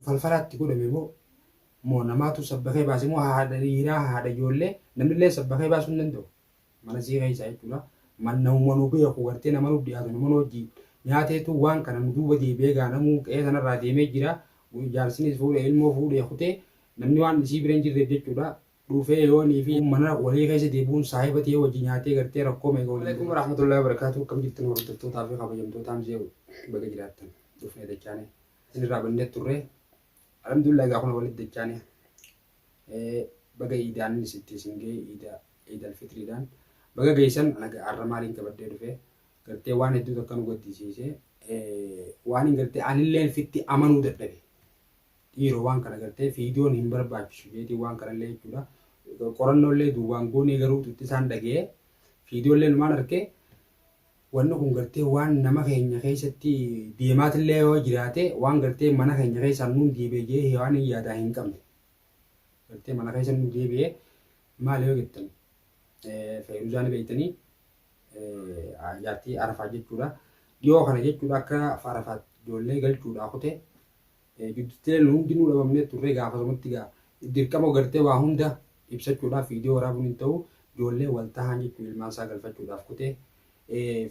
falfalaa itti godhame moo moo namaatu sabbakee baase moo haadha dhiiraa haadha ijoollee namnillee sabbakee baasuu hin danda'u mana sii keessaa jechuudha man namuma nu beeku gartee nama nuuf dhiyaatu nama nu hojii nyaateetu waan kana nu duuba deebi'ee gaa namuu qe'ee sanarraa deemee jira jaarsinis fuudhee ilmoo fuudhee kutee namni waan isii bira hin jirreef jechuudha dhufee yoonii fi mana walii keessa deebi'uun saahiba ta'ee wajji nyaatee gartee rakkoo meeqa waliin. Alaikum warahmatullahi wabarakatuh kam jirtan hordoftootaa fi kabajamtootaa mzee baga jiraattan dhufnee dachaanee. isin irraa bannee turre alhamdulillah egaa kun walitti dachaane baga iidaan sitti isin ga'e iida iidal fitriidhaan baga geessan anaga har'a maaliin qabadhee dhufe gartee waan hedduu takka nu gaddisiise waan hin gartee anilleen fitti amanuu dadhabe dhiiroo waan kana gartee fiidiyoon hin barbaachisu jeetii waan kanallee jechuudha qorannollee duwwaan goonee garuu tutti isaan dhaga'ee fiidiyoollee numaan argee Wanni kun gartee waan nama keenya keessatti deemaatillee yoo jiraate waan gartee mana keenya keessaan nuun deebi'e jee hewaan hin yaadaa hin qabne. Gartee mana keessa nu deebi'e maal yoo jettan feeruzaa ni beektanii jaartii arafaa jechuudha. Dhiyoo kana jechuudha akka arafaa ijoollee galchuudhaa kute Bibttilee nu hundinuu dhabamnee turree gaafasumatti egaa dirqama gartee waa hunda ibsachuudhaaf viidiyoo waraabuun hin ta'u ijoollee wal tahaan jechuun ilmaan isaa galfachuudhaaf kutee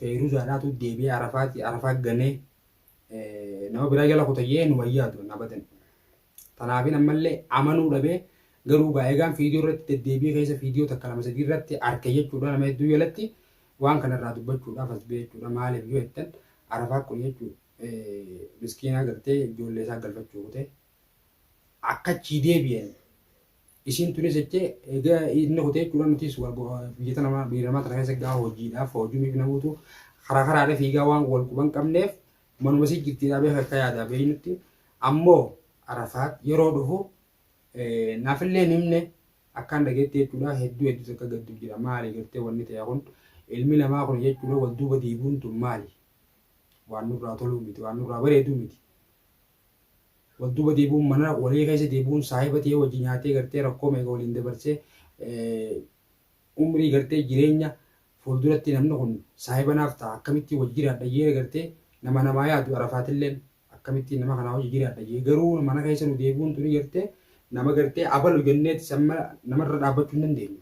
Feeyruzaadhaatu deebi'ee Arafaati Arafaa ganee nama biraa jala kutayyee nu wayyaa turan abadan. Tanaafin ammallee amanuu dhabee garuu gaa egaan viidiyoo irratti deddeebi'ee keessa viidiyoo takka lama sadii irratti arke jechuudha nama hedduu jalatti Waan kana irraa dubbachuudhaaf as ba'e jechuudha. Maaliif yoo jettan Arafaa kun jechuun miskiinaa gartee ijoollee isaa galfachuu kutee akka achii deebi'an isiin tunis jechee egaa inni kutee jechuudha nutis biyya tana biyya namaa tana keessa egaa hojiidhaaf hojiif na buutu karaa karaadha fiigaa waan wal quban qabneef manuma isii jirtiidhaa beeka akka yaadaa beeynutti ammoo Arafaat yeroo dhufu Naafillee hin himne akkaan dhageetti jechuudha hedduu hedduu takka gaddu jira maali gartee wanni ta'e kun ilmi namaa kun jechuudha wal duuba diiguun tun maali waan nurraa toluu miti waan nurraa bareeduu miti wal duuba diiguun mana walii keessa diiguun saahiba ta'ee wajji nyaatee gartee rakkoo meeqa waliin dabarsee umrii gartee jireenya fuulduratti namni kun saahiba naaf ta'a akkamitti wajji jiraadha jeera gartee nama namaa yaadu arafaatilleen Akkamittiin nama kanaa wajji jiraadha jee garuu mana keessa nu deebi'uun tuni gartee nama gartee abalu jenneeti samma namarra dhaabbachuu hin dandeenyu.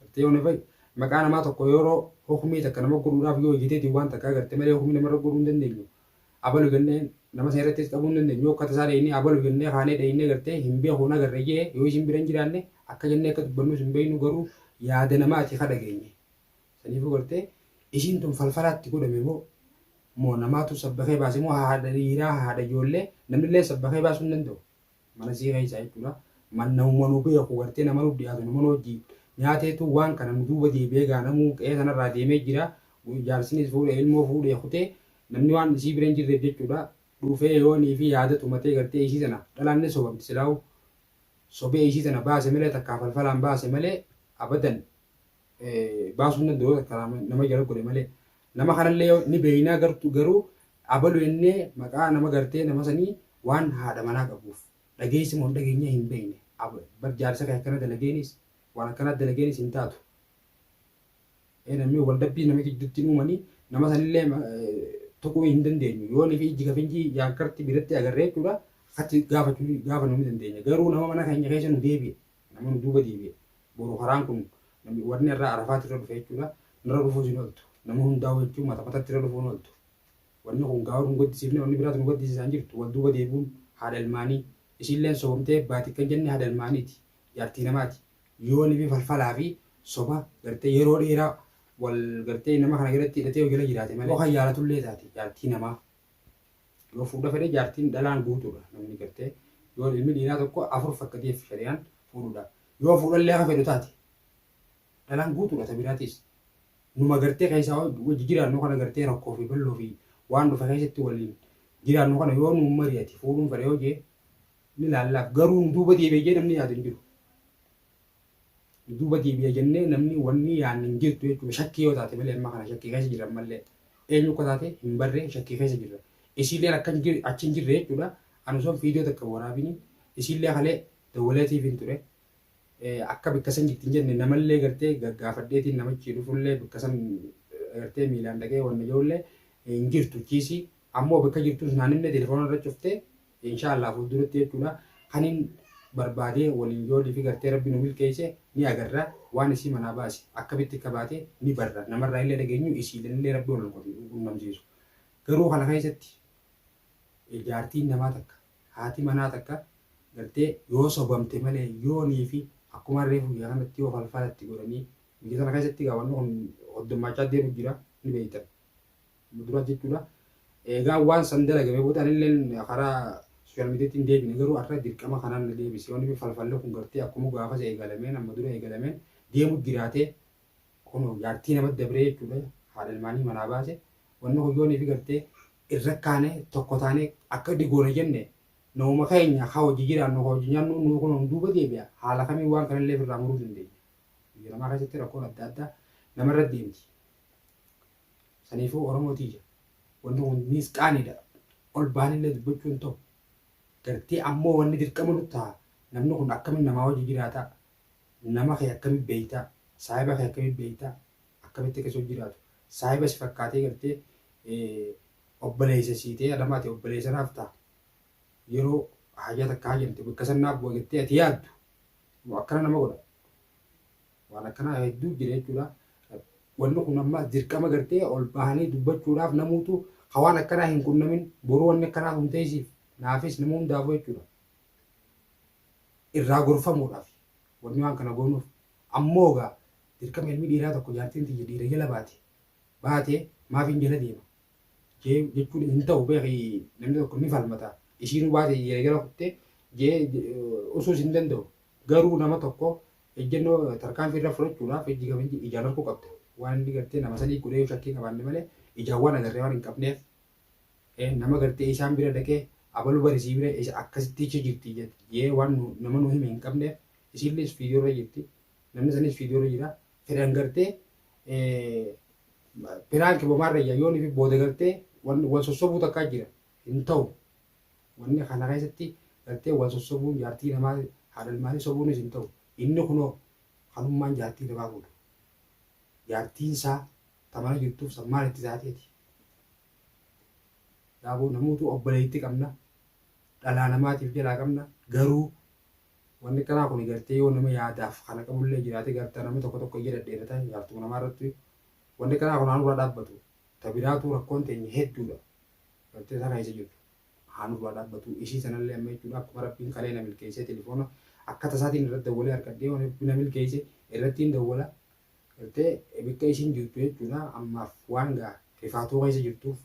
Gartee yoo nafay maqaa namaa tokko yeroo hukumii takka nama godhuudhaaf yoo hojjeteeti waan takkaa gartee malee hukumii namarra godhuu hin dandeenyu. Abalu jennee nama sana irrattis dhabuu hin dandeenyu. Yoo akka tasaa dhahinee abalu jennee kaanee dhahinee gartee hin beekuun agarre jee yoo isin bira hin jiraanne akka jennee akka dubbannus hin beeknu garuu yaada namaati ka dhageenye. Saniifuu gartee isiin tun falfalaa itti godhame moo moo namaatu sabbakee baase moo haadha dhiiraa haadha ijoollee namnillee sabbakee baasuu hin danda'u mana isii keessaa jechuudha mannawuma nu beeku gartee nama nu dhiyaatu nama nu hojji nyaateetu waan kana nu duuba deebi'ee gaa namuu qe'ee sanarraa deemee jira jaarsinis fuudhee ilmoo fuudhee kutee namni waan isii bira hin jirreef jechuudha dhufee yoonii fi yaada tumatee gartee isii sana dhalaan ni sobamti silaa'u sobee isii sana baase malee takkaa falfalaan baase malee abadan baasuun danda'u takka nama jala godhe malee nama kanallee yoo ni beeynaa gartu garuu abalu jennee maqaa nama gartee nama sanii waan haadha manaa qabuuf dhageessi moo hin dhageenye hin beeyne Ab- bar jaarsa kee akkana dalageenis waan akkanaa dalageenis hin taatu Ee, namni wal dabbii nama gidduutti hin uumanii nama sanillee eh, tuquu hin dandeenyu yoo nifi ijji kafinjii yaankarti biratti agarree jechuudha akkatti gaafachuu gaafanuu ni dandeenya garuu nama mana keenya keessa nu deebi'e Namni duuba deebi'e boru karaan kun namni warri irraa arafaatti irra dhufe jechuudha. Nurra dhufuus hin ooltu. Nama hundaa'u jechuun mata matatti irra dhufuu hin ooltu. Wanni kun gaawar nu gaddisiifne wanni biraatu nu gaddisiisaan jirtu wal duuba deebi'uun haadha ilmaanii isiilleen soomtee baati kan jenne haadha ilmaaniiti jaartii namaati yoo nibi falfalaa fi soba gartee yeroo dheeraa wal gartee nama kana jalatti hidhatee yoo jala jiraate malee yoo kan yaalatullee taate jaartii namaa Yoo fuudha fedhe jaartiin dhalaan guutuudha. Namni gartee yoo ilmi dhiiraa tokko afur fakkateef shari'aan fuudhuudha. Yoo fuudhallee haa fedhu taate dhalaan guutuudha ta biraatiis. Numa gartee keessaa wajji jiraannu kana gartee rakkoo fi bal'oo fi waan dhufe keessatti waliin jiraannu kana yoo nu mari'ate fuudhuun fedha yoo jee ni laallaaf garuu nu duuba deebi'ee jee namni yaadu hin jiru. Duuba deebi'a jennee namni wanni yaanne hin jirtu jechuudha. Shakkii yoo taate malee amma kana shakkii keessa jirra ammallee. Eenyu akka taate hin barree shakkii keessa jirra. Isiilleen akka hin jirre achi hin jirre jechuudha. Ani osoo viidiyoo takka waraabini isiillee kalee dawwalee tiifiin ture. Eh, Akka bakka san jirti hin jenne namallee gartee gaggaafadheetiin namichi dhufullee bakka san eh, gartee miilaan dhaqee wanna ijoollee hin jirtu chiisii. Ammoo bakka jirtus naan himne telefoona irra cuftee Inshallah fulduratti jechuudha kanin barbaade waliin yoo live gartee rabbi nu milkeeyse ni agarra waan isii manaa baase akkamitti akka baate ni barra namarraa illee dhageenyu isiilanillee rabbi wal nuqotu nu qunnamsiisu garuu kana keessatti jaartiin namaa takka haati manaa takka gartee yoo sobamte malee yoonii fi akkuma reefu yaa kanatti yoo falfalatti godhanii biyya sana keessatti gaa wanni kun hoddummaachaa deemu jira ni beeytan Dura jechuudha. Eegaa waan san dalagame booda anilleen karaa sooshaal miidiyaatti hin deebine garuu har'a dirqama kanaan na deebise. Wanni falfalli kun gartee akkuma gaafas eegalameen amma dura eegalameen deemu jiraate kunoo jaartii namatti dabree jechuudha. Haadha ilmaanii manaa baase. Wanni kun yoonii fi gartee irra kaanee tokko taanee akka digoone jenne nauma keenya haa hojii jiraannu haa hojii nyaannu nuu kun nu duuba deebi'a. Haala kamiin waan kanallee ofirraa muruu dandeenya. Biyya namaa keessatti rakkoon adda addaa namarra deemti. Saniifuu Oromoo tiyya wanni kun niis qaaniidha. Ol baanillee dubbachuu hin ta'u. Gartee ammoo wanni dirqama nutti taha namni kun akkamiin namaa wajji jiraata? Nama kee akkamiin beeyta? Saahiba kee akkamiin beeyta? Akkamitti akka si wajji jiraatu? Saahiba si fakkaatee gartee obboleessa sii ta'ee adama ati obboleessa naaf ta'a. Yeroo hajaa takka hajamte bakka san naaf bu'a jettee ati yaaddu akkana nama godha. Waan akkanaa hedduu jira jechuudha. Wanni kun amma dirqama gartee ol bahanii dubbachuudhaaf namuutu ka waan akkanaa hin qunnamin boruu wanni akkanaa kun teessiif naafis nama hundaafuu jechuudha. Irraa gorfamuudhaaf wanni waan kana goonuuf ammoo egaa dirqama ilmi dhiiraa tokko jaartiin tiyya dhiira jala baate baate maafiin jala deema jee jechuun hin ta'u beeki namni tokko ni falmata isiinuu baate jee jala kuttee jee usuus hin danda'u Garuu nama tokko ejjennoo tarkaanfii irra fudhachuudhaaf ijji kabajni ijaan arguu qabda. Waan inni gartee nama sadii godhee yoo shakkii qabaanne malee ijaan waan agarree waan hin qabneef ee nama gartee isaan bira dhaqee abalu bari sii bira isa akkasitti ichi jirti jee waan nu, nama nu hime hin qabneef isiillis fiidiyoo irra jirti namni sanis fiidiyoo irra jira fedhan gartee ee, piraanki bomaarra iyyaa yoon fi booda gartee wan, wan sossobuu takkaa jira hin ta'u. Wanni kana keessatti gartee wal sossobuun jaartii namaa haadha ilmaanii sobuunis hin ta'u. Inni kunoo kanummaan jaartii namaa fuudhe. Jaartiin isaa ta mana jirtuuf san maal itti taateeti? Yaaboo namuutu obboleetti qabna. Dhalaa namaatiif jalaa qabna. Garuu wanni kanaa kun gartee yoo nama yaadaaf kana qabullee jiraate garta nama tokko tokko ija dhadheerata jaartuma namaa irratti wanni kanaa kun aanurraa dhaabbatu. Ta biraatuu rakkoon teenya hedduudha. Dhabdee tana isa jirtu. Haa nurraa dhaabbatuu. Ishii sanallee amma jechuudha akkuma rabbiin kalee na milkeessee telefoona akka tasaatiin irratti dawwalee argadhee waan rabbi na milkeesse irrattiin dawwala. Gartee bikka ishiin jirtu jechuudha ammaaf waan gaa rifaatuu keessa jirtuuf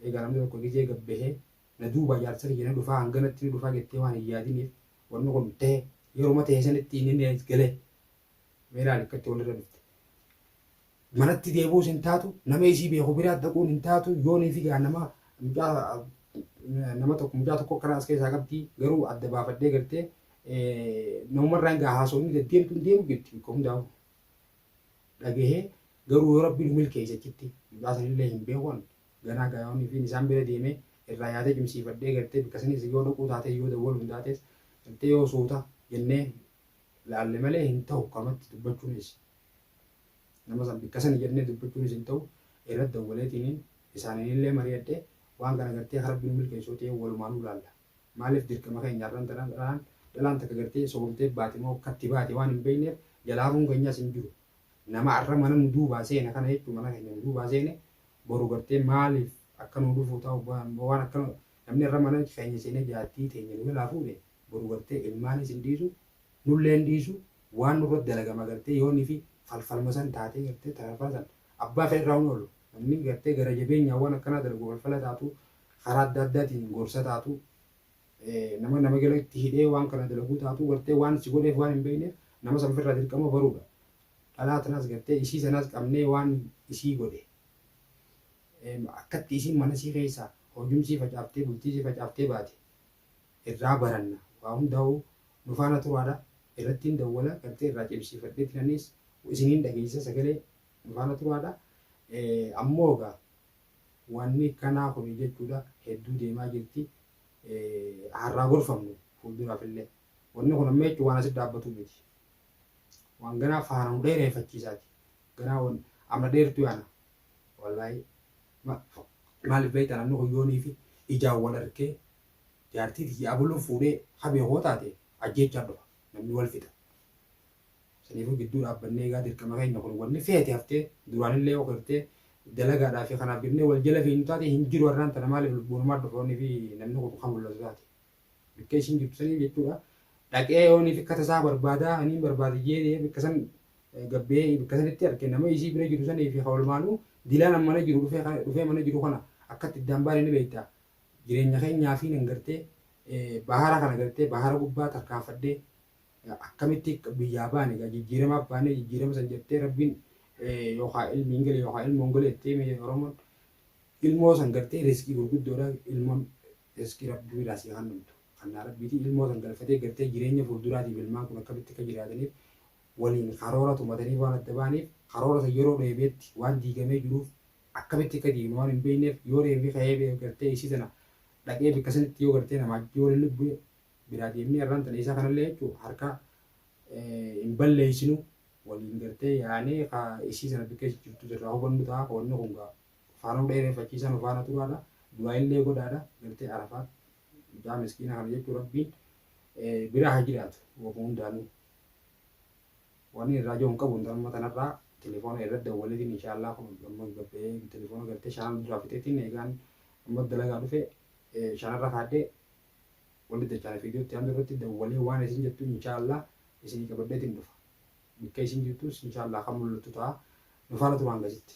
egaa namni tokko gizee gabbahee na duuba jaarsa kiyya na dhufaa hanganatti na dhufaa jettee waan hin yaadiniif wanni kun ta'e yeruma ta'e sanitti inni na galee meelaan akkatti walirra dhufte. manatti deebi'uus hin taatu nama isii beeku biraa dhaquun hin taatu yoonii fi gaa nama mucaa nama tokko mucaa tokko karaa as keessaa qabdi garuu adda baafadhee gartee namumarraan gaa haasofni deddeemtu hin deemu jirti bikka hundaa'u dhagahee garuu yoo rabbiin milkeessa achitti mucaa sanillee hin beekan ganaa gaa yoonii fi isaan bira deemee irraa yaadee cimsiifadhee gartee bikka sanis yoo dhaquu taatee yoo dawwalu hin taates gartee yoo suuta jennee laalle malee hin ta'u kamatti dubbachuunis Nama san bikka sani jannee dubbachuunis hin ta'u, irra dawwaleetiiniin isaaniinillee mari'adhe, waan kana gartee akka Rabbi nu milkeessu yoo ta'e walumaanuu laalla. Maaliif dirqama keenya har'an tana dhalaan dhalaan takka gartee sobamtee baate moo akkatti baate waan hin beeyneef jalaa hafuun keenyaas hin jiru. Nama har'a mana nu duubaa seene kana jechuun mana keenya nu duubaa seene boru gartee maaliif akka nuu dhufuu ta'u waan akka namni har'a mana keenya seenee jaartii teenya nu jalaa fuudhe boru gartee ilmaanis hin dhiisu nullee hin dhiisu waan nurratti dalagama gartee yoo nifi falfalma san taatee gartee tararfaan san abbaa kee irraa hin oolu namni gartee gara jabeenyaan waan akkanaa dalagu falfala taatu karaa adda addaatiin gorsa taatu nama nama gala itti hidhee waan kana dalaguu taatu gartee waan si godheef waan hin beekneef nama san ofirraa dirqama baruudha dhalaa tanaas gartee isii sanaas qabnee waan isii godhe akkatti isiin mana sii keessaa hojumsii facaaftee bultii sii facaaftee baate irraa baranna waa hundaahuu nu faana turaadha irrattiin dawwala gartee irraa cimsiifadhee tiranis isiniin dhageessisa sagalee nu faana turaadha ammoo egaa wanni kanaa kuni jechuudha hedduu deemaa jirti harraa gorfamnu fuulduraaf illee wanni kun amma jechuun waan asitti dhaabbatu miti waan ganaa faana nu dheereeffachiisaati ganaa wan amma dheertu yaana wallahi maaliif beektan anni kun yoonii fi ijaan wal arkee jaartii tiyya abuluun fuudhee habee koo taate ajjeechaan dhufa namni wal fixa saniifuu gidduu dhaabbannee egaa dirqama keenya kun wanni feete haftee duraanillee ok haftee dalagaadhaa fi kanaaf jennee wal jala fiinnu taate hin jiru har'aan tana maaliif lubbuunumaa dhufoonni fi namni kun kan mul'atu taate bikka isiin jirtu saniif jechuudha dhaqee yoonii fi kata isaa barbaadaa aniin barbaade jee bikka san gabbee bikka sanitti arge nama isii bira jiru sanii fi hawalmaanuu dilaan ammana jiru dhufee dhufee mana jiru kana akkatti iddaan baane ni beektaa Jireenya keenyaafii nan gartee bahara kana gartee bahara gubbaa tarkaanfadhee akkamitti biyyaa baane egaa jijjiiramaaf baanee jijjiirama san jettee rabbiin yookaan ilmi hin gale yookaan ilmoon gale jettee mee oromoon ilmoo san gartee riskii gurguddoodha ilmoon riskii rabbii biraa sii kan dhumtu kannaa rabbiitii ilmoo san galfatee gartee jireenya fuulduraatiif ilmaan kun akkamitti akka jiraataniif waliin karoora tumatanii waan adda baaniif karoora san yeroo dheebeetti waan diigamee jiruuf akkamitti akka diigne waan hin beekneef yoo reeffi ka'ee bee gartee isii tana dhaqee bikka sanitti yoo gartee namaa ajjee yoo lilli bu'e biraa deemnee arraan tana isaa kanallee jechuu harka hin balleessinu waliin gartee yaanee ka isii tana bikka isii jirtu jirraa hubannu ta'a ka wanni kun gaa faanuu dha'ee reeffachiisaa nu faana turaadha du'aa illee godhaadha gartee arafaat mucaa miskiina kana jechuu rabbiin bira haa jiraatu wama hundaanuu. Wani irraa jahu hin qabu intal amma tanarraa telefona irra dawwalefin insha Allah kun amma gabba'ee telefona galtee shanan duraa fixeetiin eegaan amma dalagaa dhufe shanarra kaadhe wali dachaana fiidiyoo itti aantu irratti dawwalee waan isin jettu insha Allah isinii qabadheetiin dhufa bikka isin jirtus insha Allah kan mul'attu ta'a nufaana turaan gasitti.